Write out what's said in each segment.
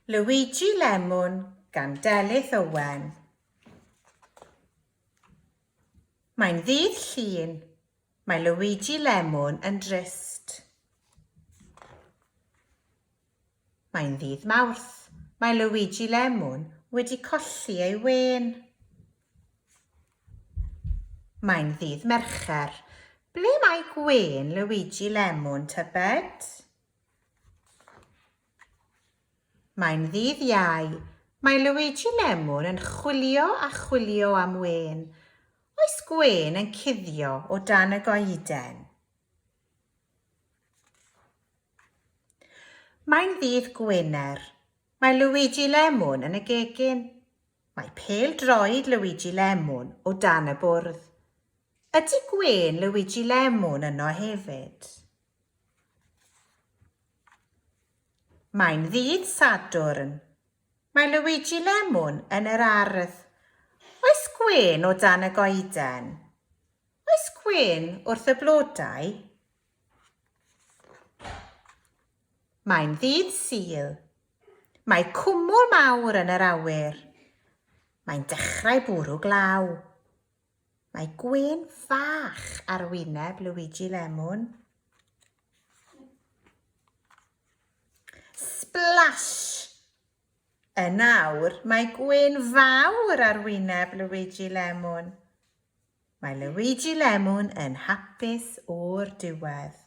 Luigi Lemwn gan Delyth Owen. Mae'n ddydd Llun. Mae Luigi Lemwn yn drist. Mae'n ddydd Mawrth. Mae Luigi Lemwn wedi colli ei wên. Mae'n ddydd Mercher. Ble mae Gwên, Luigi, Lemwn, tybed? Mae'n ddydd Iau. Mae Luigi Lemwn yn chwilio a chwilio am Wên. Oes Gwên yn cuddio o dan y goeden? Mae'n ddydd Gwener. Mae Luigi Lemwn yn y gegin. Mae pêl-droed Luigi Lemon o dan y bwrdd. Ydy gwên Luigi Lemon yno hefyd? Mae'n ddydd Sadwrn. Mae Luigi Lemon yn yr ardd. Oes gwên o dan y goeden? Oes gwên wrth y blodau? Mae'n ddydd Sul. Mae cwmwl mawr yn yr awyr. Mae'n dechrau bwrw glaw. Mae gwên fach ar wyneb Luigi Lemon. Splash! Yn awr, mae gwên fawr ar wyneb Luigi Lemon. Mae Luigi Lemon yn hapus o'r diwedd.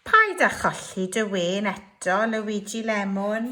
Paid â cholli dy wen eto, Luigi Lemon.